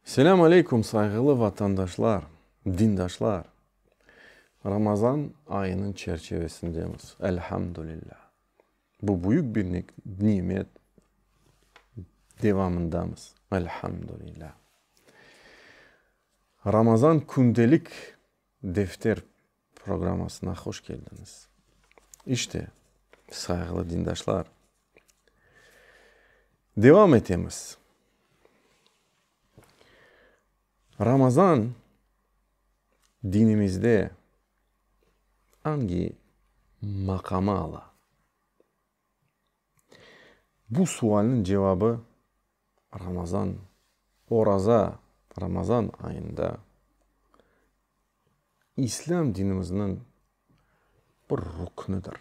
Selâm aleykum, sayğılı vatandaşlar, dindaşlar! Ramazan ayınıñ çerçivesindemiz, elhamdülillâ. Bu büyük bir nimet devamındamız, elhamdülillâ. Ramazan kündelik defter Programmasına hoş keldiñiz. İşte, sayğılı dindaşlar, devam etemiz. Ramazan dinimizde angi maqamı ala? Bu sualniñ cevabı Ramazan, oraza, Ramazan ayında İslâm dinimizniñ bir rüknidir.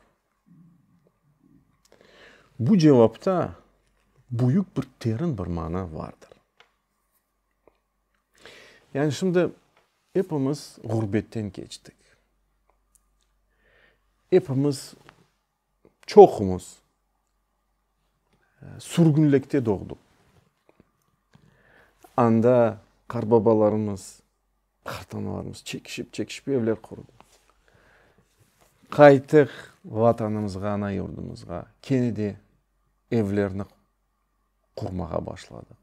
Bu cevapta büyük bir terin bir mana vardır. Yani şimdi epimiz ğurbetten keçtik. Epimiz. Çoqumuz sürgünlikte doğdıq. Anda qarbabalarımız, qartanalarımız çekişip-çekişip evler qurdı. Qaytıq Vatanımızğa, ana yurdumuzğa, kene de evlerni qurmağa başladıq.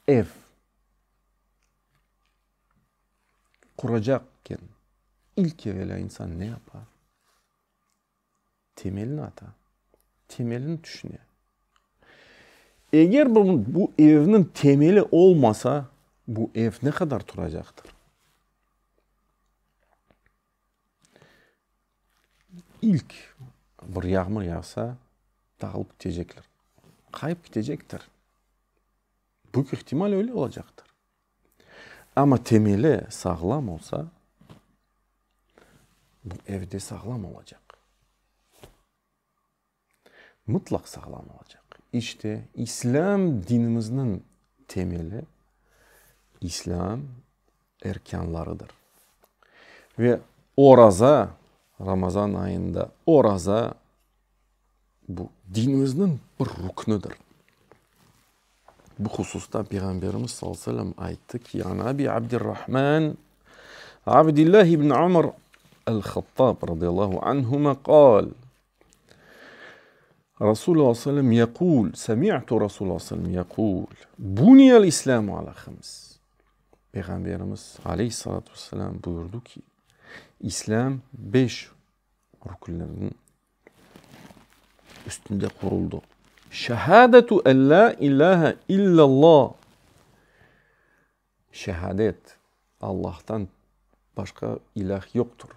ev quracakken ilk evelâ insan ne yapa? Temelini ata, temelini tüşüne. Eger bu evniñ temeli olmasa, bu ev ne qadar turacaqtır? İlk bir yağmur yağsa, dağılıp ketecekler, qayıp ketecektir. Büyük ihtimal öyle olacaqtır. Amma temeli sağlam olsa, bu ev de sağlam olacaq. mıtlaq sağlam olacaq. İşte, İslâm dinimizniñ temeli, İslâm erkânlarıdır. Ve oraza, Ramazan ayında oraza, bu, dinimizniñ bir ruknidir. Bu hususta Peyğamberimiz sallallahu aleyhi ve sellem ayttı ki, An Abi Abdirrahman Abdillah ibn Umar el-Hattab radiyallahu anhuma qâl, Rasul sallallahu aleyhi ve sellem yekul, semi'tu Rasul sallallahu aleyhi ve sellem yekul, buniyel İslâmu ala hıms, Peyğamberimiz aleyhi salâtu ve selâm buyurdı ki, İslâm beş rükünlerden üstünde quruldı, şehâdetu ellâ ilâhe illâllâh, Şehadet, Allahtan başqa ilâh yoqtur,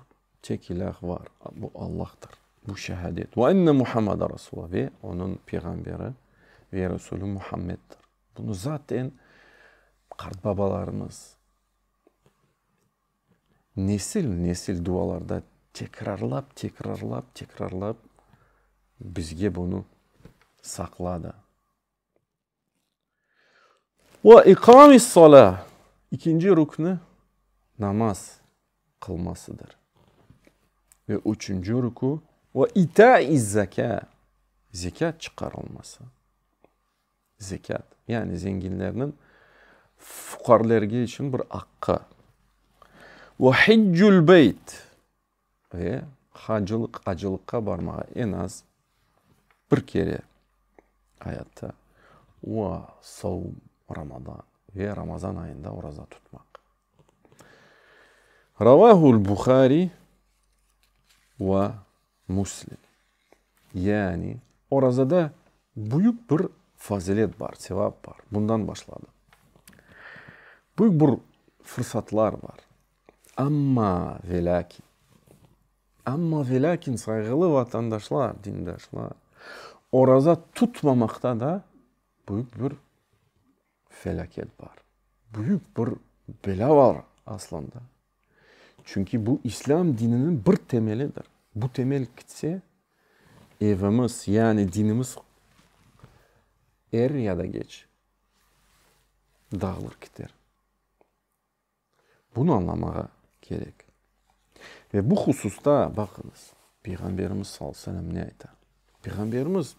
tek ilâh var, bu Allahtır. Bu şehadet. Ve enne Muhammeden Resul, ve Onıñ Peyğamberi ve Resulü Muhammeddir. Bunı zaten qartbabalarımız nesil-nesil dualarda tekrarlap, tekrarlap, tekrarlap bizge bunı saqladı. Ve ikâmissalâ, ikinci rükni namaz qılmasıdır. Ve üçünci rükü, ve itâizzekâ, zekât çıqarılması. Zekât, yani zenginlerniñ fuqarlerge içün bir aqqı. Ve hiccülbeyt. Ve hacılıq, acılıqqa barmağa en az bir kere ayatta ua savum Ramadan ve Ramazan ayında oraza tutmaq. Ravahul Buhari va Muslim. Yani orazada büyük bir fazilet bar, sevap bar. Bundan başladı. Büyük bir fırsatlar bar. Amma ve lâkin, amma ve lâkin, sayğılı vatandaşlar, dindaşlar, oraza tutmamaqta da büyük bir felâket bar, büyük bir belâ bar aslında. Çünki bu islâm dininiñ bir temelidir. Bu temel kitse, evimiz, yani dinimiz er ya da geç dağılır kiter. Bunı añlamağa kerek. Ve bu hususta baqıñız, Peyğamberimiz sallallahu aleyhi ve sellem ne ayta? Peyğamberimiz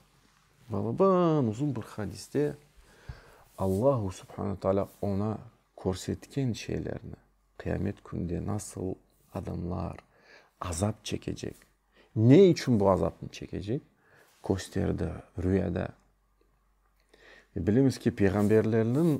balıbın uzun bir hadiste Allahu subhane ve teala oña körsetken şeylerni, qıyamet kününde nasıl adamlar azap çekecek, ne içün bu azapnı çekecek, kösterdi rüyada. Bilemiz ki, peyğamberlerniñ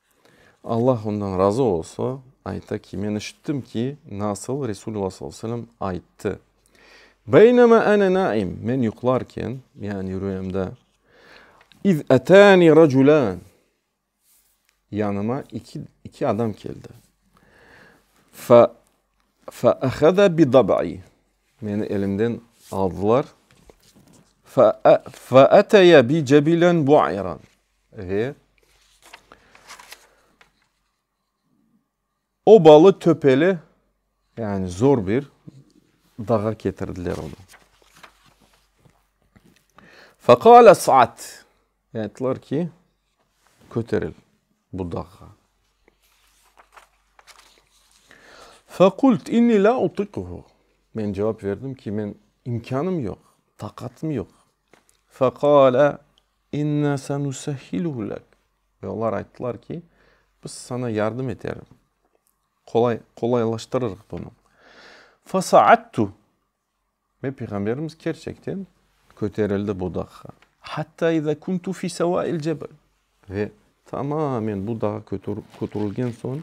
Allah ondan razı olsa, ayta ki, men işittim ki, nasıl Resulullah sallallahu aleyhi ve sellem ayttı, Beynema ene naim, men yuqlarken, yani rüyamda, iz etani raculan, yanıma iki iki adam keldi, fe fe ahada bi dab'i, meni elimden aldılar, fe fe ateya bi cebilen bu'iran, Ve obalı-töpeli, yani zor bir dağa ketirdiler onı. Feqâl es'ad, ayttılar ki, köteril bu dağğa. Feqult inni la utikuhu, men cevap verdim ki, men imkânım yoq, taqatım yoq. Feqâle İnna sanusahhiluhu lâk. Ve olar ayttılar ki, Biz saña yardım eterim, qolay, qolaylaştırırıq bunı. Fasa'attu. Ve Peyğamberimiz kerçekten köterildi bu dağğa. Hatta iza kuntu fi sevail cebel. Ve tamamen bu dağa köterilgen soñ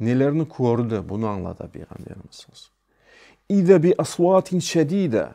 nelerni kördi, bunı añlata Peyğamberimiz sallallahu aleyhi ve sellem. İza bi asvatin şedida.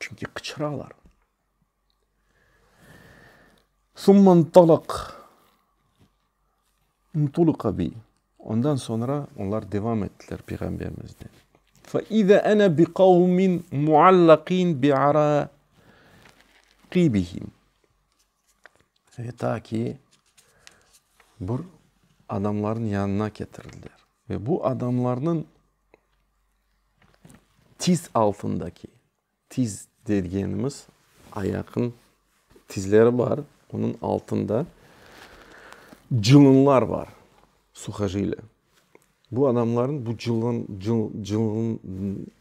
Çünki qıçıralar. Summa ntolaq, ntuliqa bi, ondan soñra olar devam ettiler Peyğamberimizden. Fe ize ene bi qavmin muallaqin bi araqibihim. Ve ta ki bir adamlarnıñ yanına ketirildiler. Ve bu adamlarnıñ. Tiz altındaki, tiz degenimiz ayaqnıñ tizleri bar, onıñ altında cılınlar bar, suhojilâ. Bu adamlarnı bu cılın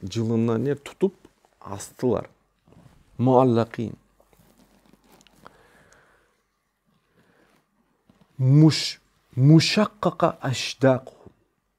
cılınlarnı tutıp astılar, muallâqîn. Muşaqqa aşdâqu.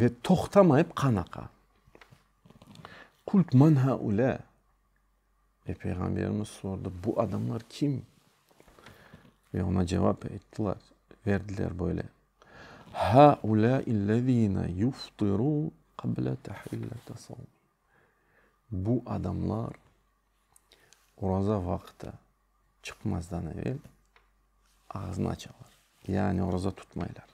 Ve toqtamayıp qan aqa. Qult men hâulâ, Ey Peyğamberimiz sordı, bu adamlar kim? Ve oña cevap ayttılar, verdiler böyle, Hâulâillezîne yuftirû qabla tahillete savm. Bu adamlar Oraza vaqıtı çıqmazdan evel ağzını açalar, yani oraza tutmaylar.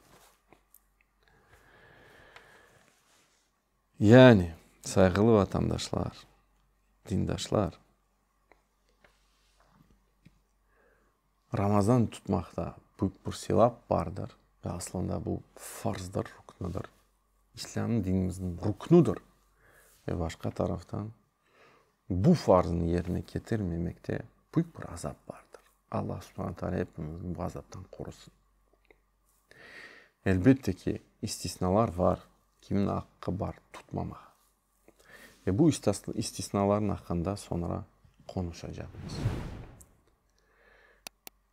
Yani, sayğılı vatandaşlar, dindaşlar, Ramazan tutmaqta büyük bir sevap bardır ve aslında bu farzdır, rüknüdür, İslâm dinimizniñ rüknüdür ve başqa taraftan, bu farznı yerine ketirmemekte büyük bir azap bardır. Alla Subhane Taala epimizni bu azaptan qorusın. Elbette ki, istisnalar bar, kimniñ aqqı bar tutmamağa. Ve bu istisnalarnıñ aqqında soñra qonuşacaqmız.